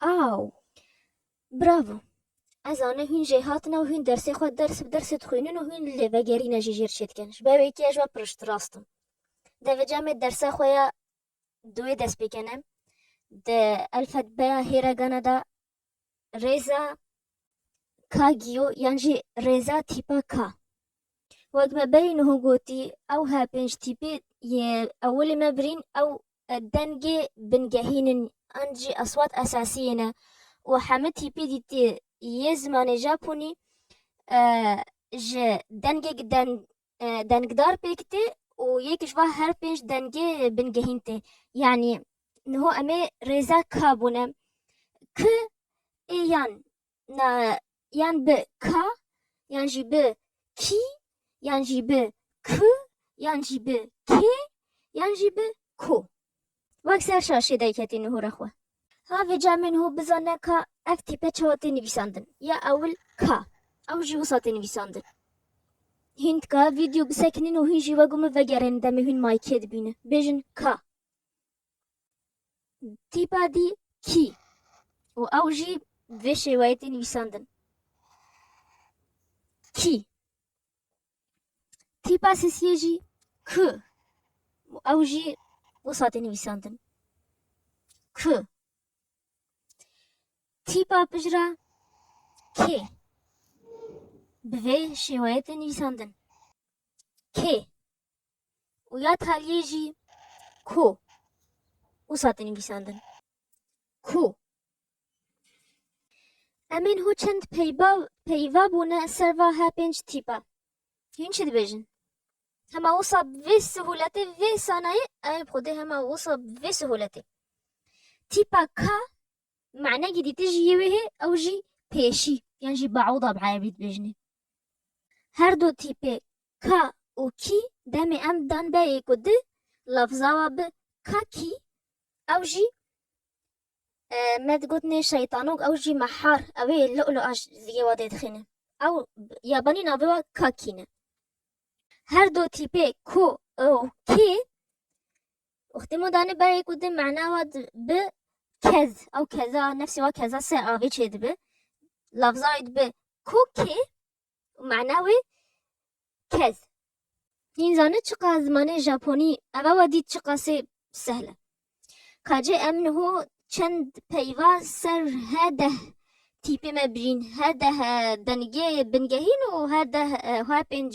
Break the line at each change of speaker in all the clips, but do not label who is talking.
Aw! Bravo! Ez zanîm hûn jê hatine û hûn dersê xwe ders bi dersê dixwînin û hûn li lêvegerîna jî jêr çêdikin. Ji ber wê yekê ez ji we pirişt rast im. Dê vê cemê dersa xwe ya duwê dest pê kenim. Di elfetbeya hêregana de rêza K giyo yan jî rêza tîpa K. Wek me berî niho gotî, ew her pênc tîpê yê ewilê me birîn ew dengê bingehîn in an jî eswat esasî yê ne û heme tîpê dîtê yê zimanê Japonî ji dengek dengdar pêk tê û yek ji van her pênc dengê bingehîn tê. Yanî niho em ê rêza ka bûne, k, ê yan na yan bi ka yan jî bi kî yan jî bi ku yan jî bi kê yan jî bi ku. Wek ser şaşê derketî nûhûra xwe. Ha vê camê nûhû bizane ka ev tîpe çawa tê nivîsandin. Ya ewil ka, ew jî wisa tê nivîsandin. Hîn tika vîdyo bisekinîn û hîn jî wek û min vegerênin demê hîn maykê dibînin. Bêjin ka. Tîpa dî kî û ew jî vê şêweyê tê nivîsandin. Kî. Tîpa sesiyê jî ku û ew jî wisa tê nivîsandin. Ku. Tîpa pijra kê bi vê şêweyê tê nivîsandin. Kê. û ya taliyê jî ku wisa tê nivîsandin. Ku em ên hû çend peyva peyva bûne ser va he pênc tîpa. Hîn çi dibêjin? Hema wisa bi vê sihuletê vê sanayê ew ê bi xwedê hema wisa bi vê sihuletê. Tîpa ka manekî dîtijî yê wê hê ew jî pêşî yan jî baûda bi erebî dibêjinê. Her du tîpê ka û kî demê em dan beyê ku di lafzawa bi ka kî ew jî me digotinê şeytanok ew jî mehar ew ê lu'lu'a ji yê wa dê dixîne. Ew yabanî navê wa ka kî ne. Her du tîpê ku û kî Uxtê mo dane berê ku di mana wa bi kez ew keza nefsê wa keza se avê çê dibi. Lafza wê dibi ku kê û mana wê kez. Hîn zane çiqa zimanê Japonî eva wa dît çiqasê sehl e. Kacê em niho çend peyva ser her deh tîpê me birîn, her deh bingehîn û her deh her pênc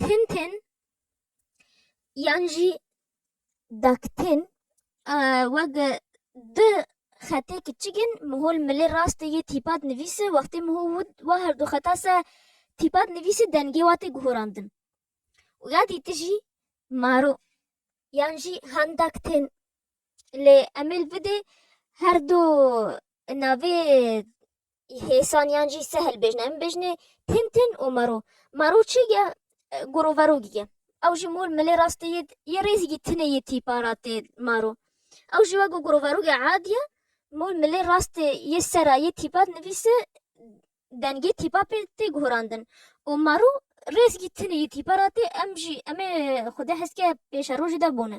tintin yan jî daktin wek du xetê kiçik in mihol milê rastê yê tîpa dinivîse wextê miho wû wa herdu xeta se tîpa dinivîse dengê wa tê guhorandin û ya dî tijî maro yan jî handaktin lê emê li vidê herdu navê Hêsan yan jî se hilbêjin em bêjinê tin tin û maro. Maro çi ye? Goroverogî ye. Ew jî mol milê rastê yê yê rêzîgî tinê yê tîpa ra tê maro. Ew jî wek goroverogê adi ye mol milê rastê yê sera yê tîpa dinivîse dengê tîpa pê tê guhurandin û maro rêzîgî tinê yê tîpa ra tê em jî em ê xwedê heskê pêşerojê de bone.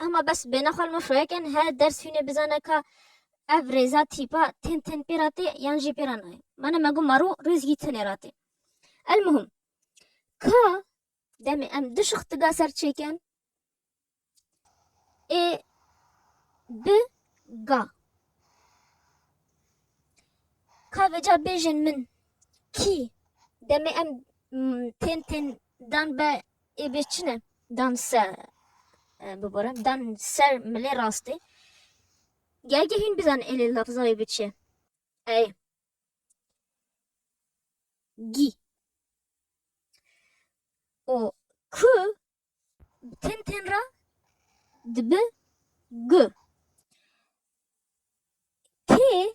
Hema bes bêhna xwe li me şoyeke ne, her ders hûnê bizane ka ev rêza tîpa tên tên pê re tê yan jî pê re nayê. Mane me got maro rêz hî tenê re tê. Elmuhim ka demê em du şixtiga ser çêken ê bi ga ka vêca bêjin min kî demê em tên tên Dan be ê bê çi ne? Dan se bibore, dan ser milê rastê. Gelge hîn bizan êlê lafza wê bi çi? Ey. Gî. O ku ten ten ra dibi gu. Tê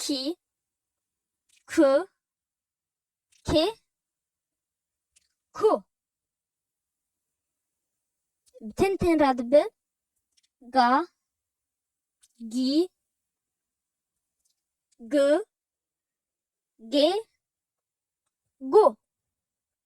kî, ku, kê, ku. Bi tên tên re dibe ga, gî, gi, gê, gu.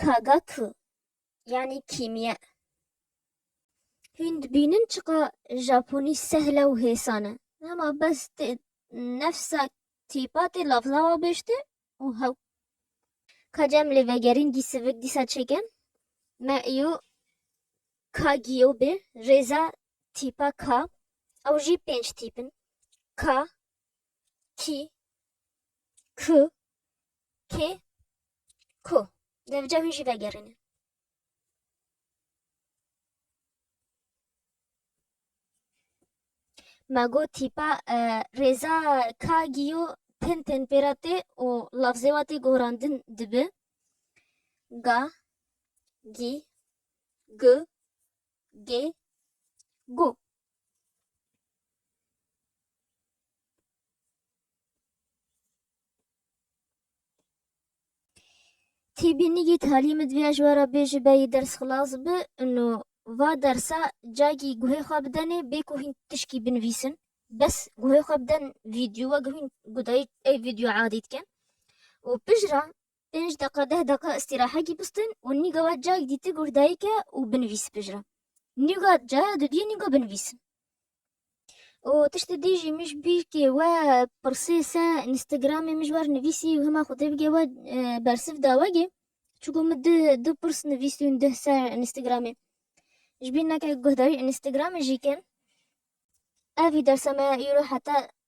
Kagaku yanî kîmye. Hûn dibînin çiqa Japonî sehle û hêsan e. Hema bes tê nefsa tîpa tê lafza wa bêjte û hew. Ka cem lê vegerîn dî sivik dîsa çêken me îyo ka giyo bê rêza tîpa ka ew jî pênc tîp in. Ka, kî, ku, kê, ku. Devca hûn jî vegerînin. Ma got tîpa rêza ka giyo tên tên pê re tê û lafzê wa tê gorandin dibi. Ga, gî, gu, gê, gu. Tî bînîgî talî min divêya ji we re bê ji beyî ders xilas bi û va dersa cagî guhê xwe bidenê bê ku hîn tişkî binivîsin bes guhê xwe biden vîdyowa guhîn gu dayî ey vîdyoya adî dikin û pişt re Pênc deqa deh deqa îstîrahekî bistîn û nîga we cayek dîtik û dayike û binivîs pijre. Nîga caya dudiyê nîga binivîsin. Û tiştê dî jî mij bî kê we pirsê se înstîgramê mij wer nivîsî û hima xwedê bigê we bersiv da we gê. Çiku min di du pirs nivîsîn dih ser înstîgramê. Ji bîr neke guhdayî înstîgramê jî ke ev î dersa me ya îro heta